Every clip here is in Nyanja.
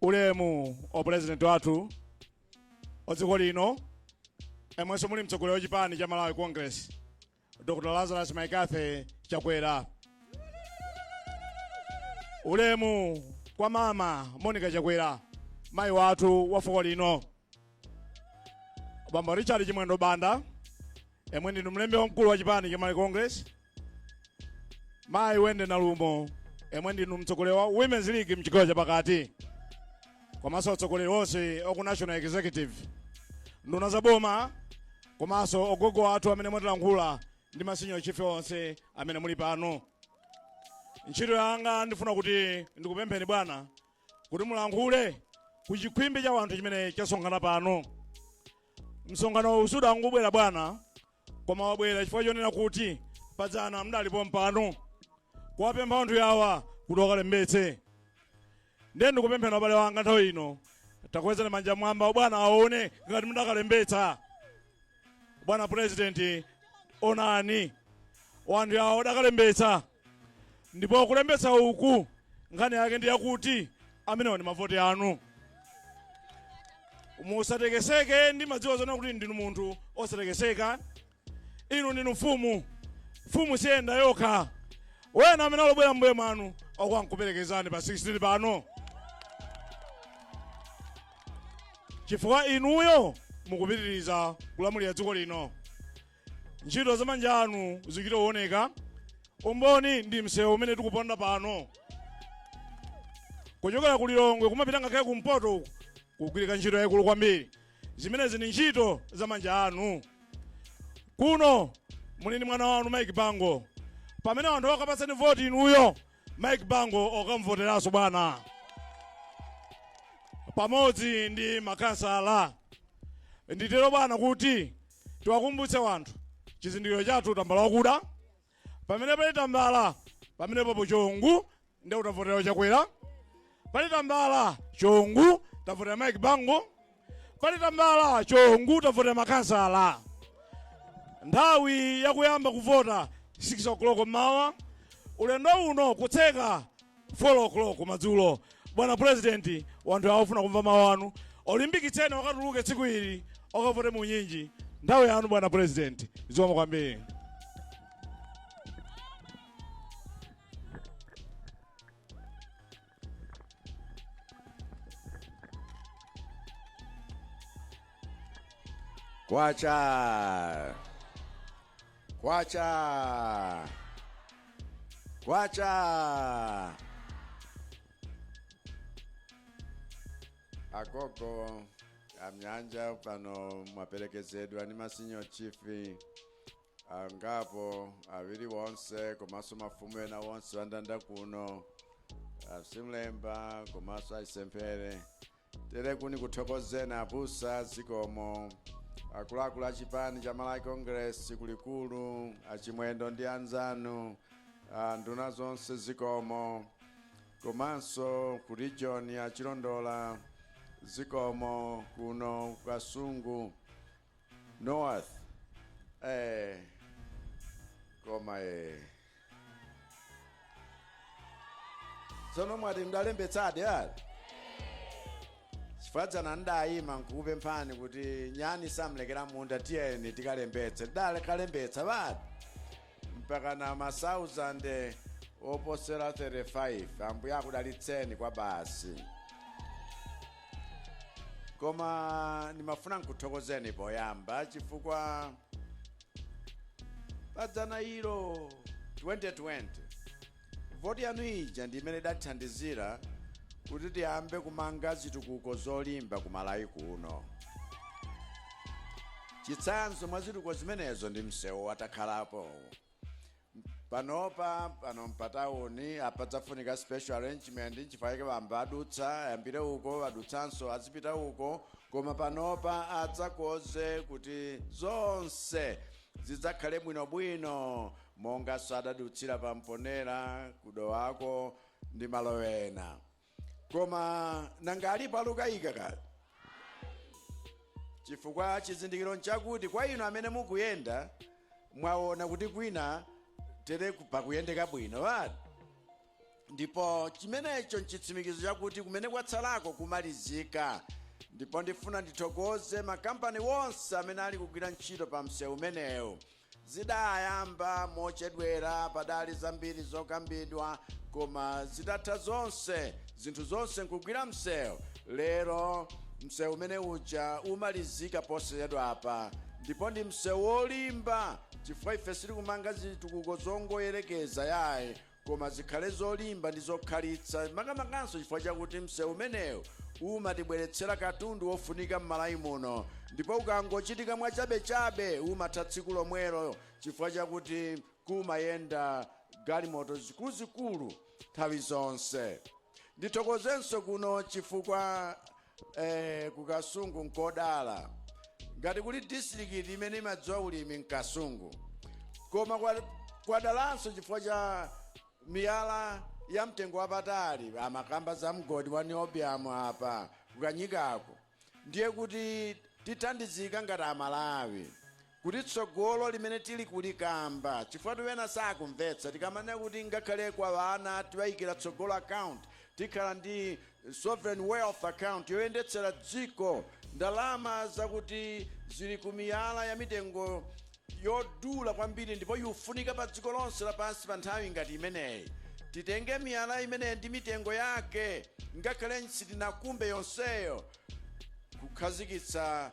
ulemu o president wathu o dziko lino yemwenso muli mtsogoleri wa chipani cha malawi congress dr lazarus mccarthy chakwera ulemu kwa mama monica chakwera mayi wathu wa fuko lino bambo richard chimwendo banda yemwe ndinu mlembi wamkulu wa chipani cha malawi congress mayi wendy nalumo yemwe ndinu mtsogoleri wa women's league mchigawo chapakati komanso atsogoleri onse oku national executive nduna za boma komanso ogogo athu amene mwatilandira ndimasinyocha ife tonse amene muli pano ntchito yanga ndifuna kuti ndikupempheni bwana kuti mulankhule ku chikhwimbi cha wanthu chimene chasonkhana pano msonkhano uwu sudangobwera bwana koma wabwera chifukwa chonena kuti padzana mudali pompano kuwapempha wanthu yawa kuti wakalembetse ndiye ndikupempheni abale wanga nthawi ino takwezani manja mwamba bwana aone ngati mudakalembetsa bwana purezidenti onani wanthu yawa adakalembetsa Ndipo kulembetsa uku nkhani yake ndi yakuti amenewo ndi mavoti anu. Musatekeseke, ndimadziwa zoona kuti ndinu munthu wosatekeseka. Inu ndinu mfumu, mfumu siiyenda yokha. Wena amene akubwera mbuye mwanu akukuperekezani pa 16 pano, chifukwa inuyo mukupitiriza kulamulira dziko lino. ntchito za manja anu zichita kuoneka umboni ndi msewu umene tikuponda pano kuchokera ku lilongwe kumapita ngakhale kumpoto uku kugwirika ntchito yayikulu kwambiri zimenezi ndi ntchito za manja anu kuno muli ndi mwana wanu mike bango pamene anthu akapatsani voti inuyo mike bango okamvoteranso bwana pamodzi ndi makansala nditero bwana kuti tiwakumbutse wanthu chizindikiro chathu tambala wakuda pamene pali tambala pamenepapo chongu nde kuti tavotera chakwera pali tambala chongu tavotera mike bango pali tambala chongu tavotera makansala nthawi yakuyamba kuvota 6 o'clock mmawa ulendo uno kutseka 4 o'clock madzulo bwana president wanthu awa afuna kumva mawu anu olimbikitseni wakatuluke tsiku ili okavote mwaunyinji nthawi yanu bwana president zikomo kwambiri Kwacha. Kwacha! Kwacha! Agogo amnyanja pano mwaperekezedwa ndi ma senior chief angapo awiri wonse komanso mafumu ena wonse andanda kuno a Simlemba komanso a Chisemphere tere kuni kuthokozeni abusa zikomo akuluakulu a chipani cha malawi congress kulikulu achimwendo ndi anzanu ah, nduna zonse zikomo komanso ku region a chilondola zikomo kuno ku kasungu north eh, koma eh. tsono mwati mdalembetsadi ali chifukwa dzana ndayima nkukupemphani kuti nyani samlekera munda tiyeni tikalembetse tidale kalembetsa bati mpakana ma 1000 oposera 35 ambuye akudalitseni kwa basi koma ndimafuna nkuthokozeni poyamba chifukwa padzana ilo 2020 voti yanu ija ndi imene idathandizira kuti tiyambe kumanga zitukuko zolimba ku malawi kuno chitsanzo mwa zitukuko zimenezo ndi msewu watakhalapo panopa pano mpatauni apadzafunika special arrangement nchifukwa bamba adutsa ayambire uko adutsanso azipita uko koma panopa adzakonze kuti zonse zidzakhale bwinobwino monganso adadutsira pa mponela ku dowako ndi malo ena koma nanga alipo alukayika kale chifukwa chizindikiro nchakuti kwa inu amene mukuyenda mwaona kuti kwina tere ku- pakuyendeka bwino bati ndipo chimenecho nchitsimikizo chakuti kumene kwatsalako kumalizika ndipo ndifuna ndithokoze makampani wonse amene ali kugwira ntchito pa msewu umenewu Zidayamba mochedwera padali zambiri zokambidwa koma zitatha zonse zinthu zonse nkugwira msewu lero msewu umene uja umalizika posachedwapa ndipo ndi msewu wolimba chifukwa ife sitili kumanga zitukuko zongoyerekeza yayi Koma zikhale zolimba ndi zokhalitsa, makamakanso chifukwa chakuti msewu umenewu umatibweretsera katundu wofunika m'Malawi muno ndipo ukangochitika mwachabechabe umatha tsiku lomwelo chifukwa chakuti kumayenda galimoto zikuluzikulu nthawi zonse. Ndithokozenso kuno chifukwa. eh, ku kasungu nkodala ngati kuli distrikiti imene imadziwa ulimi mkasungu koma kwadalanso chifukwa cha miyala ya mtengo wapatali amakamba za mgodi wa niobium apa kukanyikako ndiye kuti tithandizika ngati amalawi kuti tsogolo limene tili kulikamba chifukwa ena sakumvetsa tikamanena kuti ngakhale kwa ana tiwaikira tsogolo account tikhala ndi sovereign wealth account yoyendetsera dziko ndalama zakuti zili ku miyala ya mitengo yodula kwambiri ndipo yofunika pa dziko lonse lapansi pa nthawi ngati imeneyi titenge miyala imeneyi ndi mitengo yake ngakhale sitinakumbe yonseyo kukhazikitsa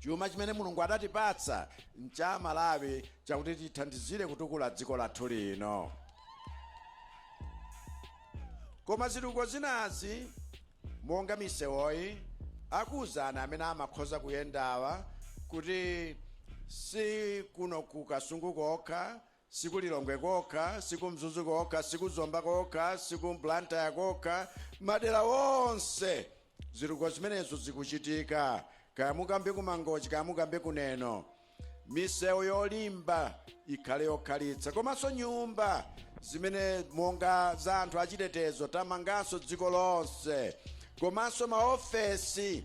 Chuma chimene Mulungu adatipatsa ncha Amalawi chakuti tithandizire kutukula dziko lathu lino. Koma zitukuko zinazi monga misewoyi akuwuzani amene amakhoza kuyendawa kuti si kuno ku Kasungu kokha Si ku Lilongwe kokha, si ku Mzuzu kokha, si ku Zomba kokha, si ku Blantyre kokha, madera onse zitukuko zimenezo zikuchitika. Kaya mukambe ku Mangochi, kaya mukambe ku Neno, misewu yolimba ikhale yokhalitsa, komanso nyumba zimene monga za anthu achitetezo tamanganso dziko lonse, komanso maofesi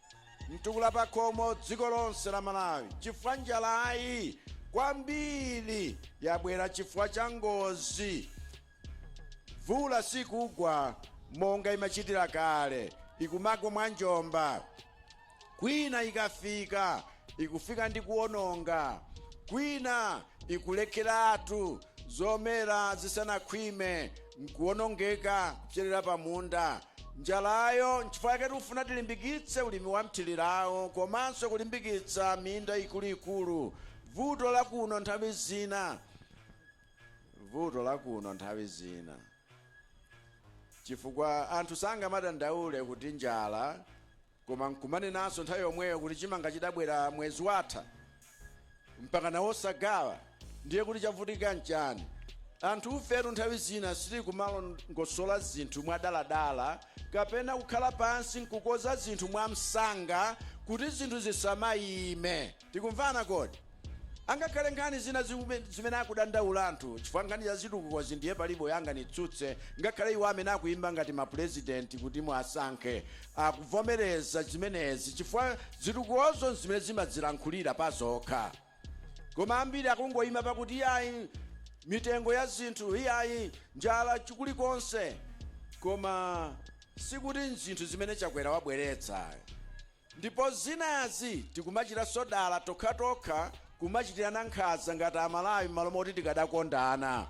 mtukula pakhomo dziko lonse la malawi chifukwa njalayi kwambiri yabwera chifukwa cha ngozi mvula sikugwa monga imachitira kale ikumagwa mwa njomba kwina ikafika ikufika ndi kuwononga, kwina ikulekeratu zomera zisanakhwime n'kuwonongeka kupserera pa munda. Njalayo n'chifukwa chake tikufuna tilimbikitse ulimi wa mthirirawo komanso kulimbikitsa minda ikuluikulu. Vuto la kuno nthawi zina vuto la kuno nthawi zina chifukwa anthu sangamadandaule kuti njala koma nkumanenanso nthawi yomweyo kuti chimanga chidabwera mwezi watha mpakana osagawa ndiye kuti chavuta nchani anthu ifetu nthawi zina sili kumalongosola zinthu mwadaladala kapena kukhala pansi nkukoza zinthu mwamsanga kuti zinthu zisamayime Tikumvana kodi? Angakhale nkhani zina zimene akudandaula anthu chifukwa nkhani za zitukukozi ndiye palibe anganitsutse ngakhale iwo amene akuimba ngati ma president kuti muasankhe akuvomereza zimenezi chifukwa zitukukozo nzimene zimadzilankhulira pazokha koma ambiri akungoima pakuti iyayi mitengo ya zinthu iyayi njala chikulikonse koma sikuti nzinthu zimene Chakwera wabweretsa ayi. Ndipo zinazi tikumachitanso dala tokhatokha kumachitirana nkhanza ngati amalawi mmalo moti tikadakondana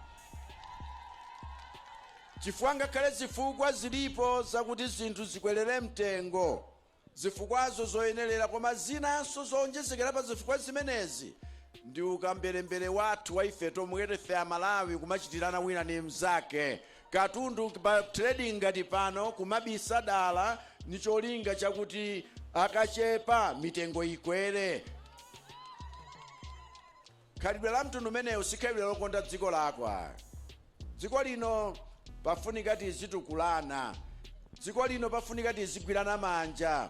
chifukwa ngakhale zifukwa zilipo zakuti zinthu zikwelere mtengo zifukwazo zoyenerera koma zinanso zowonjezekera pa zifukwa zimenezi ndi ukamberembere wathu wa ife tomwe tefe amalawi kumachitirana wina ndi mnzake katundu pa trading ngati pano kumabisa dala ni cholinga chakuti akachepa mitengo ikwere khalidwe la mtundu umenewu si khalidwe lokonda dziko lako ayi dziko lino pafunika tizitukulana dziko lino pafunika tizigwirana manja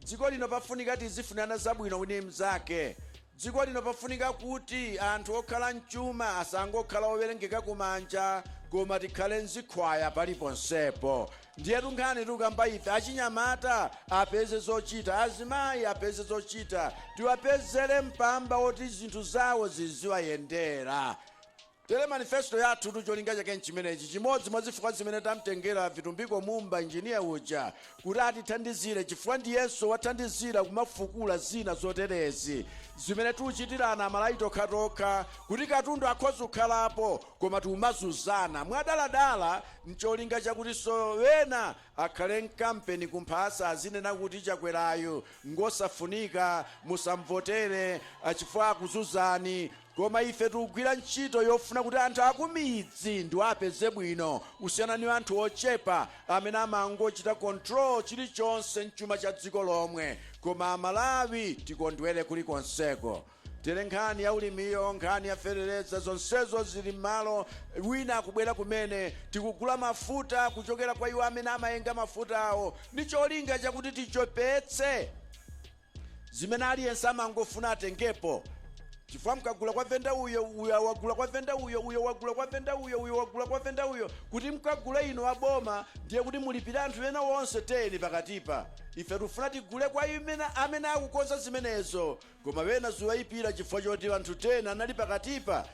Dziko lino pafunika tizifunana zabwino wina ndi mnzake. Dziko lino pafunika kuti anthu okhala mchuma asangokhala owerengeka ku manja koma tikhale mzikhwaya paliponsepo. Ndiyetu nkhani tikukamba ife, achinyamata apeze zochita, azimayi apeze zochita, tiwapezere mpamba woti zinthu zawo ziziwayendera. Tere manifesito yathutu cholinga chake nchimenechi, chimodzi mwa zifukwa zimene tamtengera Vitumbiko Mumba engineer uja kuti atithandizire chifukwa ndiyenso wathandizira kumafukula zina zoterezi zimene tuchitirana amalawi tokhatokha kuti katundu akhoza kukhalapo koma tikumazuzana mwadaladala ncholinga chakutinso ena akhale mkampeni kumphasa azinena kuti chakwerayu ngosafunika musamvotere chifukwa akuzuzani Koma ife tikugwira ntchito yofuna kuti anthu akumidzi ndiwo apeze bwino kusiyana ni anthu ochepa amene amangochita control chilichonse mchuma cha dziko lomwe koma amalawi tikondwere kulikonseko tere nkhani ya ulimiyo nkhani ya fetereza zonsezo zili mmalo wina akubwera kumene tikugula mafuta kuchokera kwa iwo amene amayenga mafutawo ni cholinga chakuti tichepetse zimene aliyense amangofuna atengepo chifukwa mkagula kwa venda uyo uyo wagula kwa venda uyo uyo wagula kwa venda uyo uyo wagula kwa venda uyo kuti mkagule inu aboma ndiye kuti mulipire anthu ena wonse teni pakatipa ife tikufuna tigule kwa iwo amene akukonza zimenezo koma wena zikuwayipira chifukwa choti anthu teni anali pakatipa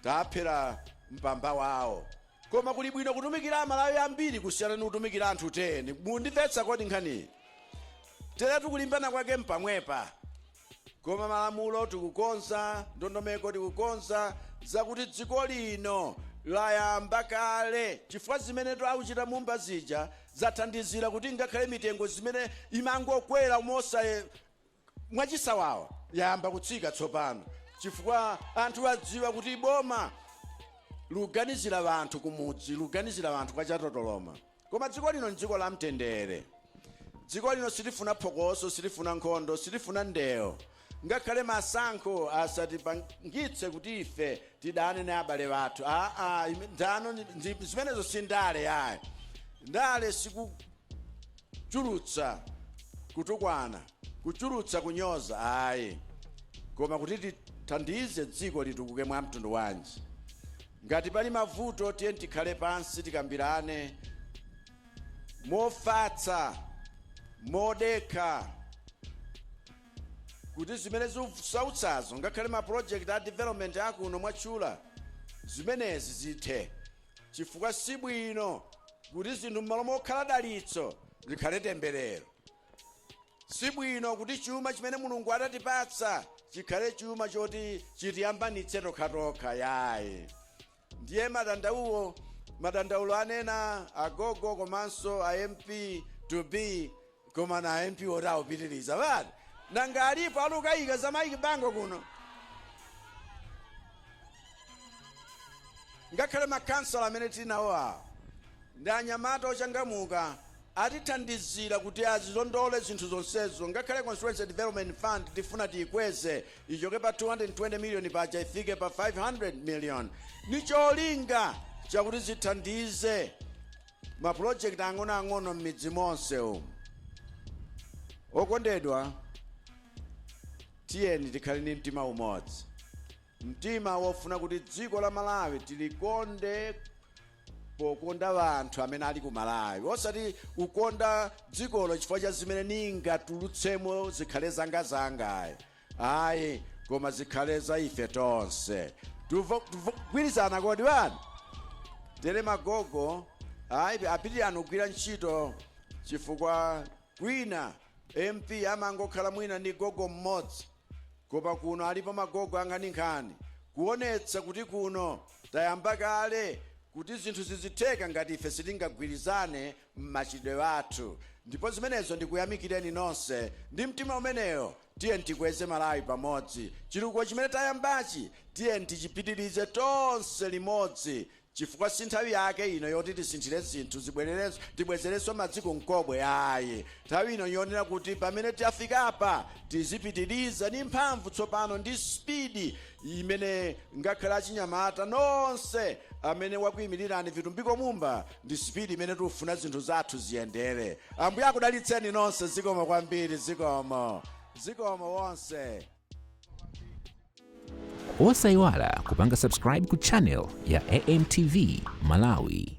taphera mpamba wawo Koma kuli bwino kutumikira amalawi ambiri kusiyana ni kutumikira anthu 10. Mundimvetsa kodi nkhaniyi? Teretu kulimbana kwake mpamwepa. Koma malamulo tikukonza, ndondomeko tikukonza zakuti dziko lino layamba kale chifukwa zimenetu akuchita Mumba zija zathandizira kuti ngakhale mitengo zimene imangokwera mosayenera, mwachisawawa yayamba kutsika tsopano chifukwa anthu adziwa kuti boma luganizira wanthu kumudzi luganizira wanthu kwa chatotoloma koma dziko lino ndziko la mtendere dziko lino silifuna phokoso silifuna nkhondo silifuna ndewo ngakhale masankho asatipangitse kuti ife tidane na abale wathu ndano zimenezo si ndale yayi ndale siku kuchulutsa kutukwana, kuchulutsa kunyoza ayi, koma kuti tithandize dziko litukuke. Mwa mtundu wanji? Ngati pali mavuto, tiyeni tikhale pansi tikambirane mofatsa, modekha, kuti zimene zikusautsazo, ngakhale ma project a development akuno mwatchula, zimenezi zithe. chifukwa si bwino kuti zinthu m'malo mokhala dalitso zikhale temberero. Si bwino kuti chuma chimene Mulungu adatipatsa chikhale chuma choti chitiyambanitse tokhatokha yayi. Ndiye madandaulo madandaulo anena agogo komanso a MP to be Koma na MP oti awupitiliza but nanga alipo alukayika za Mike Bango kuno? Ngakhale ma councillor amene tinawo awa ndi anyamata ochangamuka atithandizira kuti azilondole zinthu zonsezo ngakhale constituency development fund tifuna tiyikweze ichoke pa 220 million paja ifike pa 500 million ni cholinga chakuti zithandize ma project ang'onoang'ono m'midzi monse umu okondedwa tiyeni tikhale ni mtima umodzi mtima wofuna kuti dziko la malawi tilikonde pokonda wanthu amene ali ku malawi osati ukonda dzikolo chifukwa cha zimene ningatulutsemo zikhale zangazanga ayi ayi koma zikhale za ife tonse tugwirizana kodi bani tere magogo ayi apitirani kugwira ntchito chifukwa kwina mp amangokhala mwina ndi gogo mmodzi koma kuno alipo magogo ankhaninkhani kuonetsa kuti kuno tayamba kale kuti zinthu zizitheka ngati ife sitingagwirizane m'machitidwe athu ndipo zimenezo ndikuyamikireni nonse ndi mtima umenewo Tiyeni tikweze Malawi pamodzi. Chitukuko chimene tayambachi tiyeni tichipitilize tonse limodzi chifukwa sinthawi yake ino yoti tisinthire zinthu tibwezerenso madzi ku mkobwe ayi. Nthawi ino njonena kuti pamene tafikapa tizipitiliza ndi mphamvu tsopano ndi speed imene ngakhale achinyamata nonse amene wakuimilirani Vitumbiko Mumba ndi speed imene tufuna zinthu zathu ziyendere ambuye akudalitseni nonse zikomo kwambiri zikomo zikomo nonse osayiwala kupanga subscribe ku channel ya amtv malawi